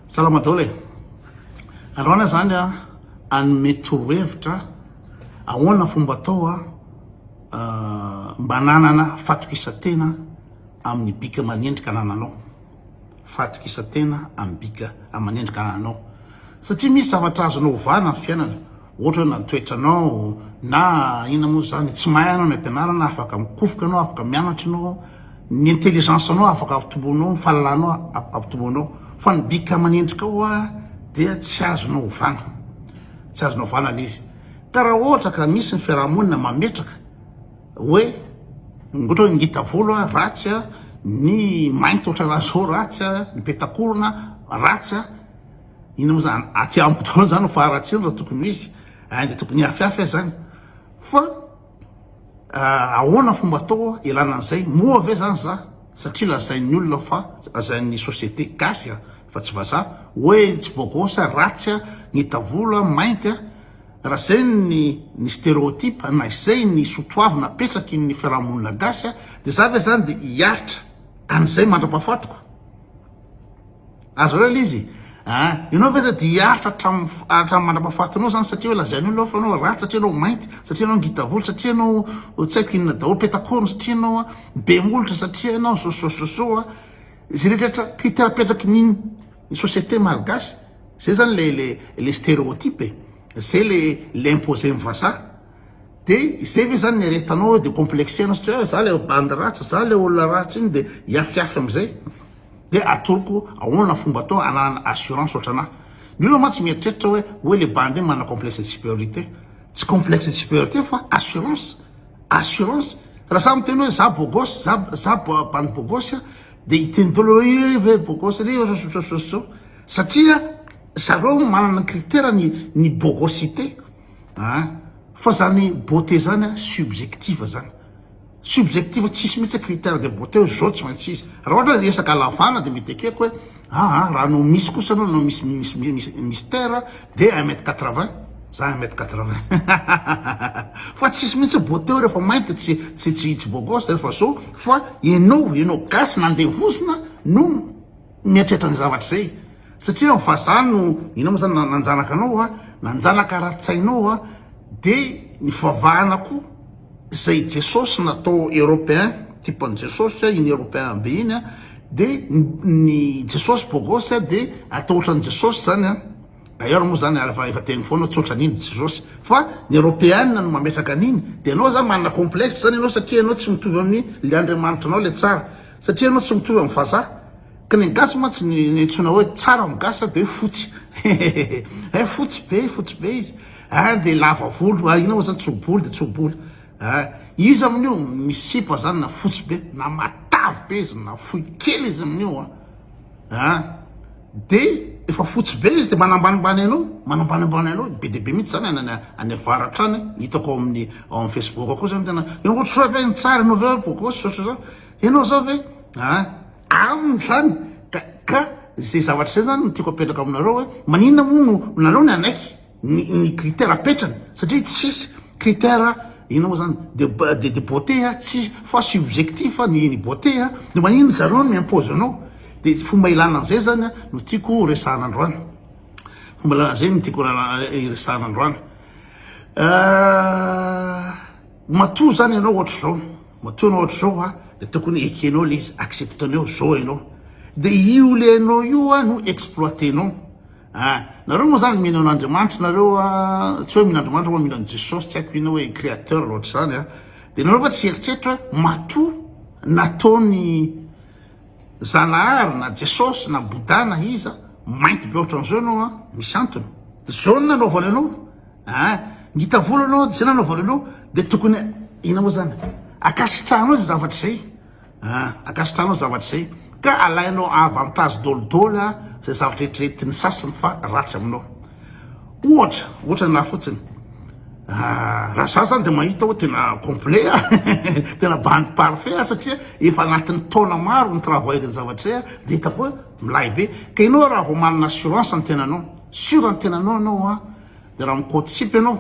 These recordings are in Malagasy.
Salama daholo e! Androana zany a hanome torohevitra ahoana fomba atao a mba nanana fatokisatena amin'ny bika aman'endrika anananao. Fatokisatena amin'ny bika aman'endrika anananao. Satria misy zavatra azonao ovana ny fiainana. Ohatra hoe na ny toetranao na inona moa izany, tsy mahay ianao ny ampianarana, afaka mikofoka ianao, afaka mianatra ianao, ny intelligence anao afaka ampitomboinao, ny fahalalanao ampitomboinao, fa ny bika aman'endrika ao dia tsy azonao ovana, tsy azonao ovana ilay izy. Ka raha ohatra ka misy ny fiarahamonina mametraka hoe ohatra hoe ngita volo a, ratsy a, ny mainty ohatrana zao ratsy a, ny petakorona ratsy a, Inona moa zany aty amiko daholo zany ny faharatsiana raha tokony misy eh, dia tokony hihafihafy aza zany fa eh, ahoana fomba atao elana an'izay moa ve zany za satria lazain'ny olona fa lazain'ny société gasy a fa tsy vazaha hoe tsy bogosy a ratsy a ny tavolo a mainty a raha zay ny ny stéréotype na izay ny sotoavina apetraky ny fiarahamonina gasy a dia za ve zany dia hiaritra an'izay mandra-pahafatiko Aza ela izy a! Ianao ve dia te hiaritra hatramin'ny mandrapahafatinao izany satria hoe lazain'ny olona fa ianao ratsy, satria ianao mainty, satria ianao ngita volo, satria ianao tsy haiko inona daholo, peta-korona, satria ianao be molotra, satria ianao so so so so a! Izay rehetrarehetra critère apetraky ny ny société malgache, izay izany le le le stéréotype e! Izay le le imposer-n'ny vazaha. Dia izay ve izany no iaretanao eo dia complexer-nao satria hoe za le bandy ratsy, za le olona ratsy iny dia hiafiafy amin'izay? dia atoroko ahoana fomba atao hananana assurance ohatran'ahy. Ny olona mantsy mieritreritra hoe hoe le bandy iny manana complexe de supériorité. Tsy complexe de supériorité fa assurance, assurance. Raha za miteny hoe za bogosy, za za bandy bogosy a, dia hiteny daholo hoe io ry ve bogosy ry zao satria zareo manana ny critère-ny ny bogosité an! fa zany beauté zany an subjective zany. Subjectif tsisy mihitsy critère de beauté hoe zao tsy maintsy izy. Raha ohatra hoe resaka halavana dia mety ekeko hoe ah ah raha no misy kosa aloha no misy misy Mister dia un mètre quatre vingt za un mètre quatre vingt fa tsisy mihitsy beauté hoe rehefa mainty tsy tsy tsy tsy beau gosse rehefa zao fa ianao ianao gasy nandevozina no Mieritreritra an'izay zavatra izay satria ny vazaha no, inona moa izany, nanjanaka anao a, nanjanaka ara-tsainao a, dia ny fivavahana koa izay Jesosy natao europeen, type an'i Jesosy a, iny europeen be iny a, dia ny Jesosy bogosy a, dia atao ohatran'i Jesosy izany a, d'ailleurs moa izany ary efa efa teny foana tsy ohatran'iny Jesosy, fa ny europeen no mametraka an'iny, dia ianao izany manana complexe izany ianao satria ianao tsy mitovy amin'ilay Andriamanitranao ilay tsara. Satria ianao tsy mitovy amin'ny vazaha. Ka ny gasy mantsy niantsoina hoe tsara amin'ny gasy dia hoe fotsy. Hehehehe fotsy be, fotsy be izy. Hein dia lava volo, ah inona moa izany tso-bolo dia tso-bolo. Hein iza amin'io misy sipa izany na fotsy be, na matavy be izy, na fohy kely izy amin'io an. a dia efa fotsy be izy dia manambanimbany anao manambanimbany anao be dia be mihitsy zany any any avara hatrany ny hitako ao amin'ny ao amin'ny facebook akoa zany tena ianao ohatr'izao ve ny tsara ianao ve bogosy ohatr'izao ianao zao ve a aminy zany ka ka izay zavatra izay zany no tiako apetraka aminareo hoe maninona moa no nareo ny anaiky ny ny critère apetrany satria tsisy critère inona moa zany de de de beauté a tsisy fa subjectif ny ny beauté a de maninona zareo no mi-impose anao de fomba ilana an'izay zany a no tiako ho resahana androany fomba ilana an'izay no tiako hiresahana androany matoa zany ianao ohatra zao matoa ianao ohatra zao a de tokony ekenao le izy accepte-nao zao ianao de io le anao io a no exploiter-nao Eh! Nareo moa zany mino an'Andriamanitra nareo a, tsy hoe mino Andriamanitra moa mino an'i Jesosy, tsy haiko ino hoe créateur loatra izany a, de nareo va tsy eritreritra hoe matoa nataon'i Zanahary na Jesosy na Bouddha na iza mainty be ohatran'izao ianao a, misy antony, zao ny nanaovany anao eh! Ngita volo ianao de zay nanaovany anao de tokony inona moa zany, ankasitrahanao izay zavatra izay. An, ankasitrahanao zavatra izay ka alainao avantage dolidoly an izay zavatra eritreretin'ny sasany fa ratsy aminao. Ohatra, ohatra anah fotsiny, an, raha za zany dia mahita hoe tena complet an, tena bandy parfait an satria efa anatin'ny taona maro ny travail ny zavatra izay an, dia hitako hoe milay be. Ka ianao raha vao manana assurance ny tenanao, sure ny tenanao ianao an, dia raha mi-coatsip ianao,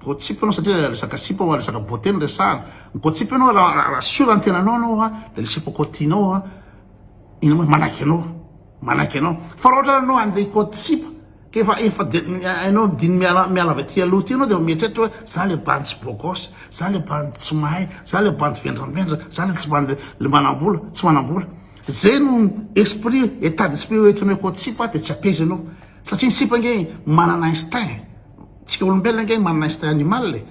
Gossip enao satria resaka sipa oa resaka beauté no resahana. Gossip enao raha sur ny tenanao enao oa de le sipa kôty tianao oa ino ma manaiky anao manaiky anao fa raha ohatra enao ande hikôty sipa k'efa efa de enao diny miala miala avy aty aloha aty enao de efa mieritreritra oe za le bandy tsy beau gosse za le bandy tsy mahay za le bandy vendravendrana za le tsy bandy le manambola tsy manambola ze no esprit état d'esprit oe oe hikôty sipa de tsy apeza enao satria ny sipa nge manana instinct. Tsika olombelona ange manana instinct animal e,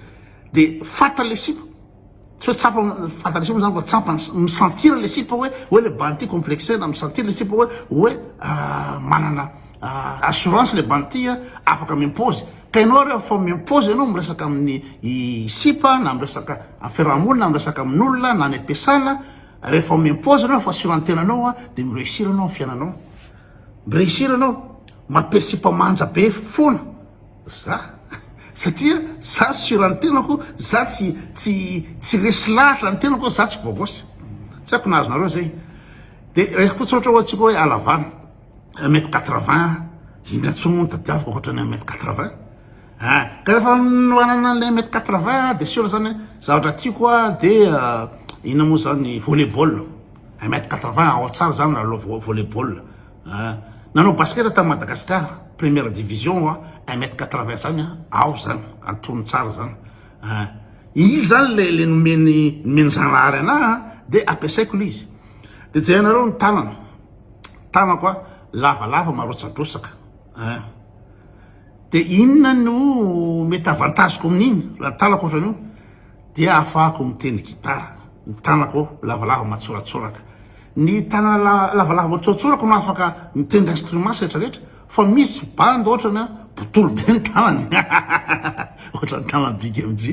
de fantany le sipa, sao tsapa fantany le sipa zany fa tsapany, mi sentir le sipa hoe hoe le banti complexe na mi sentir le sipa hoe hoe manana assurance le banti a, afaka mi impose, ka enao re efa mi impose enao miresaka aminy sipa na miresaka am fiaraha monina, miresaka amin olona na any am piasana, refa mi impose enao efa assurantenanao a de mi reussir enao am fiainanao. Mireusir anao, mampiresy mpamanja be foana za satria za sur an'ny tenako, za tsy tsy tsy resy lahatra ny tenako, za tsy bogos, tsy haiko na azonareo zay, de resy koa tsotra oe tsika oe alavana un mètre quatre vingt, indona tsony moa no tadiaviko ankoatran'ny un mètre quatre vingt a, ka refa manana anle un mètre quatre vingt a de sur zany oe zavatra tiako a de inona moa zany volley ball. un mètre quatre vingt ao tsara zany lalao volley ball ah nanao basket tany Madagascar première division oa un mètre quatre vingt zany an ao zany antonony tsara zany ah izy zany le le nomeny nomeny zanahary anah an de ampiasaiko le izy de jerenareo ny tanana tanako a lavalava marotsadrotsaka ah de inona no mety avantageko amin'iny raha ny tanako ohatran'io Dia ahafahako mitendry gitara. Ny tanako lavalava matsoratsoraka. Ny tanana lavalava matsoratsorako no afaka mitendry instruments rehetra rehetra fa misy bandy ohatrany an botolo be ny tanany ohatrany tanan'i big MJ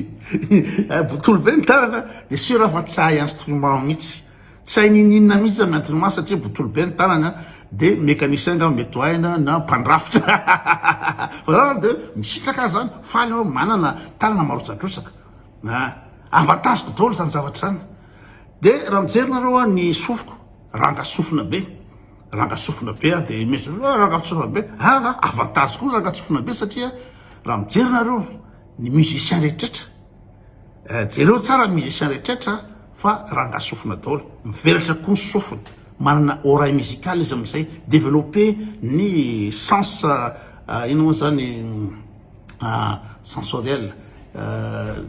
botolo be ny tanany an dia sur aho fa tsy hahay instrument mihitsy. Tsy hay n'ininona mihitsy zany miantona maso satria botolo be ny tanany an! de mécanicien angamba mety ho hay na na mpandrafitra fa zah de misitraka azy zany faly aho manana tanana marotsadrosaka a! avantage ko daholo zany zavatra zany de raha mijery nareo an ny sofiko ranga sofina be ranga sofina be aho de mes oe ranga sofina be an zah avantage koa ranga sofina be satria raha mijery nareo ny musicien rehetraretra eh, jereo tsara ny musicien rehetrretra fa ranga sofina daholo mivelatra koa ny sofina manana oreille musicale izy amin'izay développer ny sens eh, ino moa zany eh, sensoriel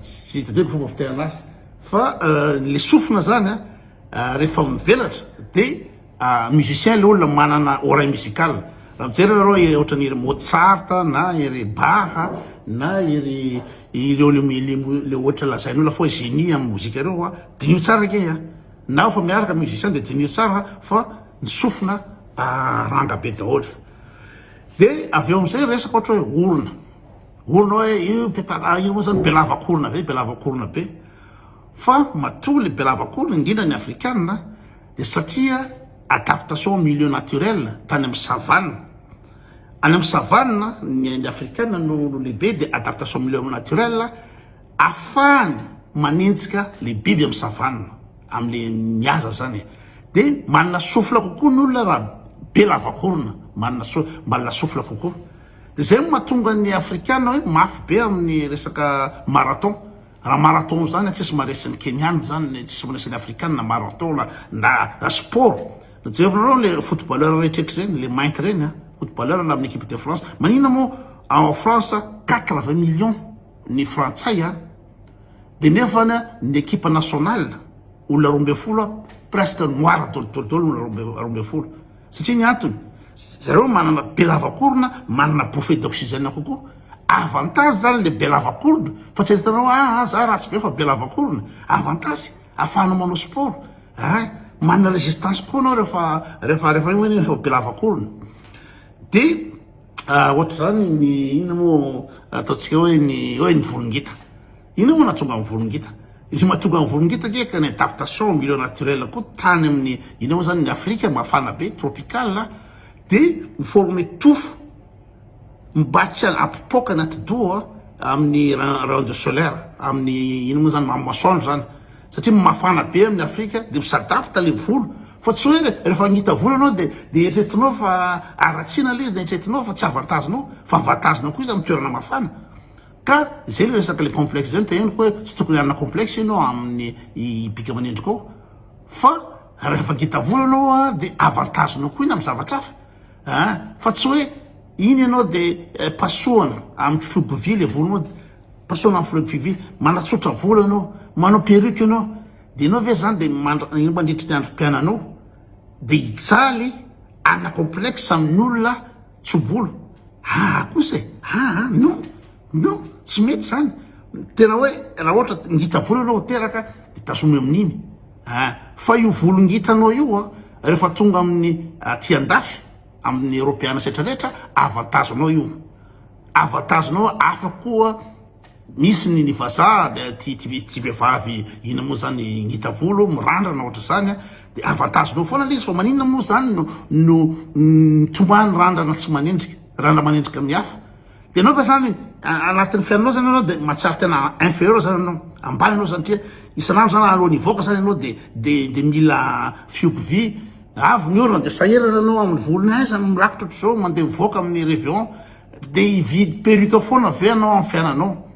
tsy hitadeo ny fomba fiterana azy fa le sofina zany rehefa mivelatra dia musicien le olona manana oreille musicale raha mijery nareo ohatran'ny ery Mozart na ery Bach na ery ireo le ohatra lazain'olo fa hoe génie amin'ny mozika ireo fa diniho tsara ange a! na efa miaraka musicien dia diniho tsara fa ny sofina ranga be daholo, dia avy eo amin'izay resaka ohatra hoe orona, orona hoe io petala io moa zany be lavankorona be, be lavankorona be, fa matoa le be lavankorona indrindra ny afrikana, Dia satria adaptation au milieu naturel tany amin'ny savane, any amin'ny savane ny ainy afrikana no lehibe dia adaptation au milieu naturel afahany manenjika le biby amin'ny savane amle mihaza zany dia manana sofla kokoa ny olona raha be lavakorona manana so manana sofla kokoa dia zay no mahatonga ny afrikana hoe mafy be amin'ny resaka marathon. Raha marathon zany an tsisy maresy ny Keniana izany ny tsisy maresy ny Afrikana marathon na na sport jerinareo le footballeur rehetrretra ireny le mainty ireny an footballeur na amin'ny equipe de France maninona moa ao France quatre vingt millions ny frantsay an de nefa ny equipe nationale olona roa ambin'ny folo presque noir dolo dolo dolo olona roa ambin'ny folo Satria ny antony, zareo manana be lavakorona, manana bouffee d'oxygène kokoa. Avantage zany ilay be lavakorona, fa tsy hitanao hoe aa za ratsy be fa be lavakorona. Avantage, afahanao manao sport aa, manana résistance kokoa anao rehefa rehefa rehefa iny ianao efa be lavakorona. Dia ohatr'izany ny inona moa ataontsika hoe ny hoe ny volon-gita. Inona moa nahatonga an'i Volongita? Ny mahatonga an'i Volongita anie ka ny adaptation au milieu naturel koa tany amin'ny inona moa zany ny Afrika mafana be, tropical, de mi-former tofo mba tsy hampipoaka ny atidoha amin'ny rayon de solaire, amin'ny inona moa zany amin'ny masoandro zany satria mafana be amin'ny Afrika de mi-s'adapte le volo fa tsy hoe rehefa hangita volo ianao de de eritreretinao fa haratsiana le izy na eritreretinao fa tsy avantagenao fa avantagenao koa izy amin'ny toerana mafana. Ka zay le resaka le complexe zay no teneniko hoe tsy tokony hanana complexe enao aminy bika aman'endrikao fa rehefa ngita vola enao a de avantage nao koa iny am zavatra hafa a fa tsy hoe iny enao de pasohana am fihogo-vy le volonao de pasohana am fihogo-vy manatsotra vola enao manao perruque enao de enao ve zany de mandra- mandritry ny androm-piainanao de hijaly hanana complexe amin'olona Tso-bolo, aa kosa e! aa non! non! tsy mety zany, tena hoe raha ohatra ngita volo ianao teraka de tazomy amin'iny aa, fa io volo ngitanao io an rehefa tonga amin'ny aty andafy amin'ny Eropeana sy retraretra avantage-nao io, avantage-nao hafa koa. Misy ny ny vazaha de ty ty vehivavy ina moa zany ngita volo mirandrana ohatra zany a de avantage nao foana le izy fa maninona moa zany no no mitomany randrana tsy manendrika randra manendrika amin'ny hafa de enao ka zany anatin'ny fiainanao zany enao de matsiaro tena inferieur zany enao ambany enao zany tria isan'andro zany alohan'ny hivoaka zany enao de de de mila fihogo vy avy ny orona de sahirana enao amin'ny volony aiza no mirakitra ohatr'izao mandeha mivoaka amin'ny reveon Dia hividy perruque foana ve ianao amin'ny fiainanao?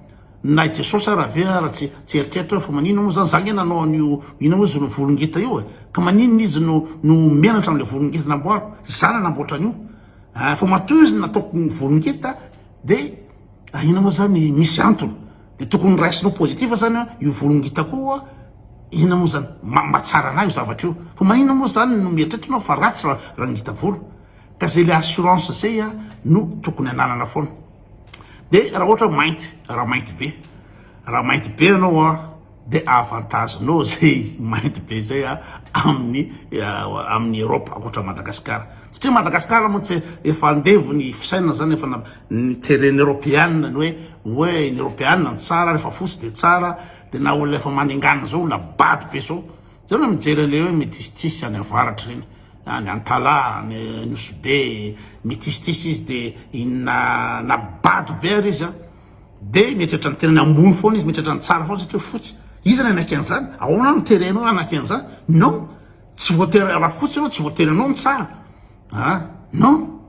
Na i Jesosy ary ve ary tsy eritreritra hoe fa maninona moa izany za ange nanao an'io inona moa izy ireo volongeta io e? Ka maninona izy no no menatra amin'ilay volongeta namboariko? Za nanamboatra an'io a! Fa matoa izy no nataoko volongeta dia inona moa izany? Misy antony. Dia tokony noraisinao positif izany hoe io volongetako io a inona moa izany? Mahatsara an'ahy io zavatra io. Fa maninona moa izany no mieritreritra ianao fa ratsy raha ngita volo? Ka zay le assurance zay a no tokony ananana foana. De raha ohatra hoe mainty, raha mainty be, raha mainty be anao a de avantage nao zay mainty be zay a amin'ny amin'ny Europe ankoatra Madagascar. Satria Madagascar moa tsy efa andevo ny fisainana zany efa niteren'ny Europeana ny hoe hoe ny Europeana ny tsara rehefa fotsy de tsara de na olona efa manengana zao olona bado be zao. Zao raha mijery an'ireny hoe metistis any avaratra ireny, any Antala, any Nosy Be, metistis izy de inona na bado be ary izy an, de mieritreritra ny tenany ambony foana izy, mieritreritra ny tsara foana satria fotsy. Iza no hanaika an'izany? Ahoana no terenao hoe hanaika an'izany? Non, tsy voatery, raha fotsy ianao tsy voatery anao ny tsara an, non.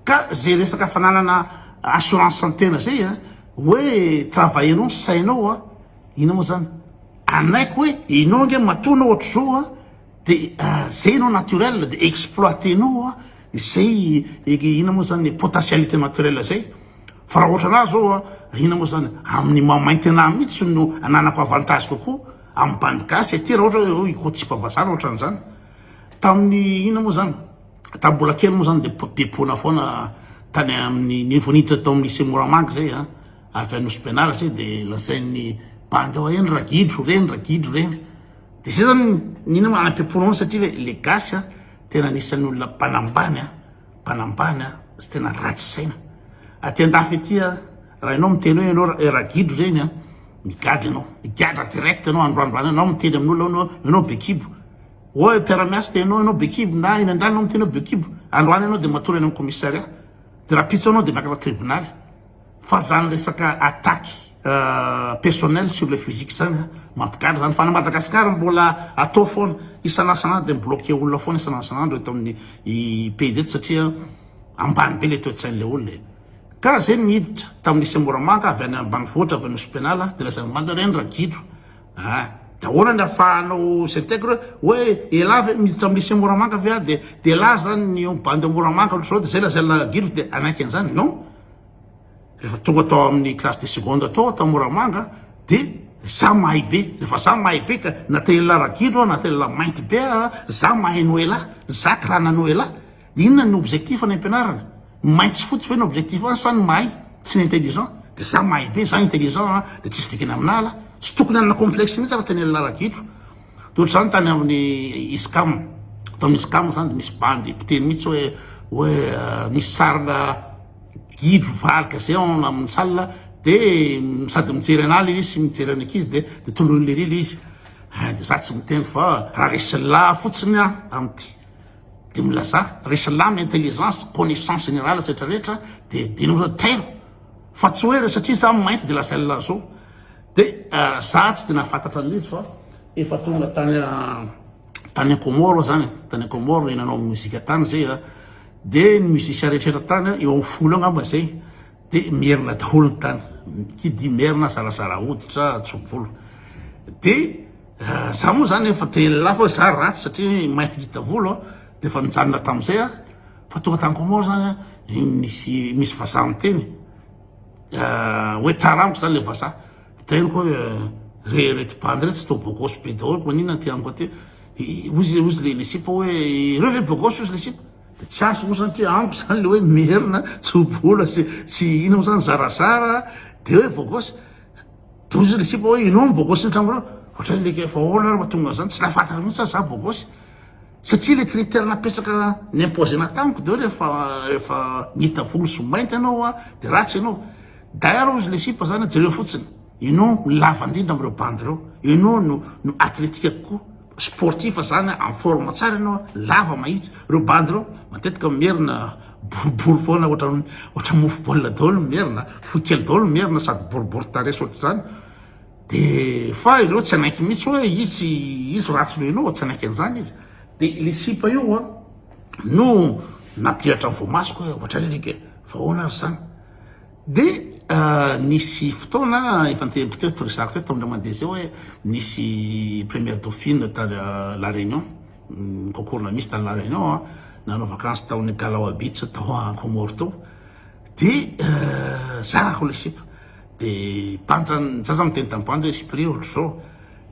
Ka ze resaka fananana assurance tena zay an, hoe travailler-nao ny sainao an. Inona moa zany? Anaiko hoe enao ange matoa anao ohatry zao a de zay enao naturel de exploiter nao a zay inona moa zany le potentialité naturel zay fa raha ohatra anah zao a inona moa zany amin'ny maha mainty anah mihitsy no ananako avantage kokoa amin'ny bandy gasy aty raha ohatra hoe hikotsipa-bazaha na ohatran'izany tamin'ny inona moa zany tamin'ny mbola kely moa zany de depona foana tany amin'ny niveau niditra tao amin'ny lycée Moramanga zay a Avy any Nosy-Pianaratra e de lazain'ny bandy ao eny ragidro reny ragidro reny de zay zany ny ina manampy am-pony anao satria hoe le gasy a tena anisan'ny olona mpanambany a mpanambany a sy tena ratsy saina aty an-dafy aty a raha ianao miteny hoe ianao ra- ragidro reny a migadra ianao migadra direct ianao androandro any anao miteny amin'olona hoe ianao ianao be kibo oa mpiara-miasa de ianao ianao be kibo na eny an-danitra ianao miteny hoe be kibo androany ianao de matory any amin'ny commissariat de raha pitso anao de miakatra tribonaly Fa zany resaka attaque personnel sur le physique zany a, mampigadra zany, fa na Madagascar mbola atao foana, isan'asan'andro dia mi-bloquer olona foana isan'asan'andro eto amin'ny pejy eto satria ambany be le toe-tsain'ilay olona e! Ka zay no niditra tamin'ny lycée Moramanga avy any ambanivohitra avy any Nosy Penala dia lasa manda re ny ragidro a! dia ahoana ny afahanao s'intègre hoe elah ve miditra amin'ny lycée Moramanga ve aho dia dia elah zany ny bandy ao Moramanga ohatr'izao dia zay lazain'ilay ragidro dia hanaiky an'izany? Non! Rehefa tonga tao amin'ny classe de seconde tao aho tao Moramanga dia za mahay be, rehefa za mahay be ka na te hiala ragidro aho na te hiala mainty be aho, za mahay noela, za karana noela, dia inona no objectif any am-pianarana? Ny mainty sy fotsy ve no objectif any sa ny mahay sy ny intelligent? Dia za mahay be, za intelligent dia tsisy dikany amin'ala, tsy tokony hanana complexe mihitsy aho raha te hiala ragidro. Toa ohatr'izany tany amin'ny ISCAM, ato amin'ny ISCAM izany dia misy bandy mpiteny mihitsy hoe hoe misy sarina gidro varika izay ao amin'ny salle dia sady mijery an'ahy ilay izy sy mijery an'ny ankizy dia dia tondroiny lery ilay izy. Ah, dia za tsy miteny fa raha resy lahy fotsiny aho amin'ity dia milazà, resy lahy amin'ny intelligence, connaissance générale sy rehetra rehetra dia dia tairo fa tsy hoe satria za mainty dia lazain'ny lahy zao. Dia za tsy dia nahafantatra an'ilay izy fa efa tonga tany tany Comores zany, tany Comores nanao mozika tany zay a, dia ny musiciens rehetra tany eo amin'ny folo eo angamba zay dia merina daholo ny tany, qui dit merina zarazara hoditra, tso-bolo, dia za moa zany efa te hiala fa za ratsy satria mainty ngita volo a, dia efa nijanona tamin'izay aho, fa tonga tany Comores zany a, misy vazaha miteny. hoe tarango zany le vazaha de henoko hoe re rety bandy retsy to bogos be daholo manina aty amiko aty ozy ozy le le sipa hoe reo ve bogos ozy le sipa de tsy azo mo zany ty amiko zany le hoe merina tsy ho bola sy sy ina mo zany zarazara de hoe bogos de ozy le sipa hoe inao ny bogos ny tragnonareo ohatran'ny like efa ahoana ary mahatonga an'zany tsy nahafatatra mintsy za za bogos Satria le critère napetraka ni-imposer-na tamiko de rehefa rehefa nihita volo sy mainty ianao a de ratsy ianao. D'ailleurs ozy le sipa zany a jereo fotsiny, ianao no lava indrindra amin'ireo bandy ireo, ianao no no athletique kokoa, sportif zany a, en forme tsara ianao a, lava mahitsy. Ireo bandy ireo matetika merina boribory foana ohatran'ny ohatran'ny mofo baolina daholo ny merina, fohy kely daholo ny merina sady boribory tarehy sy ohatr'izany. Dia fa ireo tsy hanaiky mihitsy hoe izy izy ratsy noho ianao, tsy hanaiky an'izany izy. Dia ilay sipa io an, no nampihatra ny voamasoko hoe ohatra ry alika e, fa ahoana ary izany. Dia nisy fotoana efa niteneniko teto, resahako teto tamin'ireo mandeha izay hoe nisy première dauphine tany La Réunion, ny concours-na misy tany La Réunion an, nanao vakansy tao amin'ny Kalawa Beach tao Comores tao, dia zakako ilay sipa. Dia pancha ny sasany miteny tamin'ny pancha hoe sipreo ohatr'izao.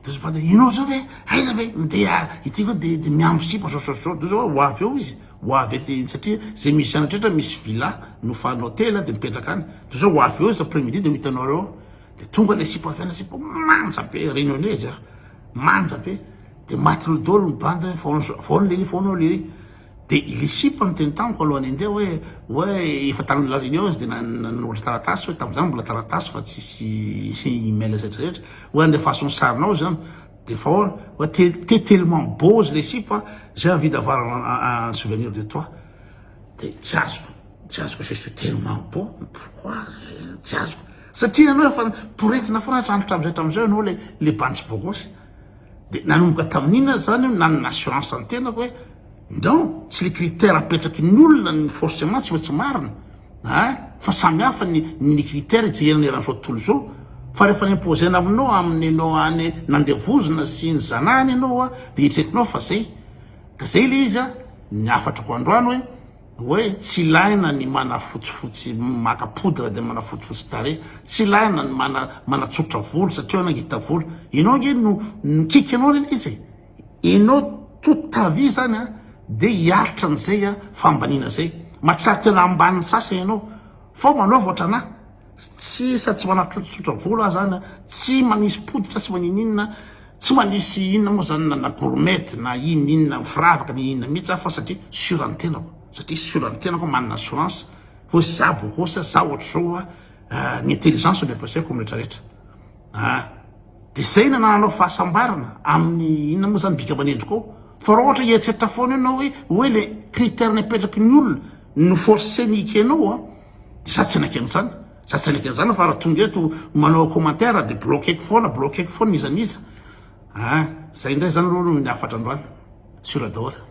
Dia izy pancha, ianao izao ve, aiza ve, dia ity koa dia dia miamby sipa izao izao izao. Dia izao ho avy eo izy, ho avy ety satria izay musician rehetra misy villa nofanin'ny hotely dia mipetraka any. Dia izao ho avy eo izy après midi dia ho hitanao eo. Dia tonga ilay sipa avy any, sipa manja be, réunionnais izy an, manja be. Dia matin'ny daholo ny banda, foana, foana lery, foana lery. Dia ilay sipa no teny tamiko alohan'ny handeha hoe hoe efa tany La Réunion izy dia nanoratra taratasy hoe tamin'izany mbola taratasy fa tsisy email sy retraretra hoe andefaso ny sarinao izany dia efa ahoana hoe te tellement beau izy ilay sipa j'ai envie d'avoir un souvenir de toi dia tsy azoko tsy azoko je suis tellement beau pourquoi tsy azoko satria ianao efa poretina foana hatramin'izay hatramin'izay ianao ilay bantsy bogosy Dia nanomboka tamin'iny aho zany nanana assurance ny tenako hoe non, tsy le critère apetraky ny olona ny forcement tsy maintsy marina ah, fa samy hafa ny ny critère ijerena eran'izao tontolo izao, fa rehefa imposer-na aminao amin'ny no any nandevozina sy ny zanahany ianao dia eritreretinao fa zay, ka zay le izy ah, ny hafatrako androany hoe. Oay tsy ilaina ny manafotsifotsy maka poudre de manafotsifotsy tarehy, tsy ilaina ny mana manatsotra volo satria nangita volo, enao ange no nikiky anao le izy e, enao toute ta vie zany a de hiaritra an'izay a fambaniana zay, mahatratra tena ambaniny sasany enao fa manaova ohatranah, Sisa tsy manatrotsotra vola zany a, tsy manisy potika tsy maninininona, tsy manisy inona moa zany na na gourmette na inn inona firavaka na inona mihitsy aho fa satria sur ny tenako, satria sur ny tenako aho manana assurance hoe za bogosy a, za ohatr'izao a, ny intelligence no ampiasaiko amin'ny rehetra rehetra a, de zay no anananao fahasambarana amin'ny inona moa zany bika aman'endriko ao, fa raha ohatra hieritreritra foana eo enao hoe hoe le critère napetraky ny olona no force-ny hikenao a. Za tsy naika an'izany, za tsy naika an'izany fa raha tonga eto manao commentaire dia bloqueko foana, bloqueko foana iza n'iza ah! Zay indray zany aloha no ny hafatra androany, sur daholo.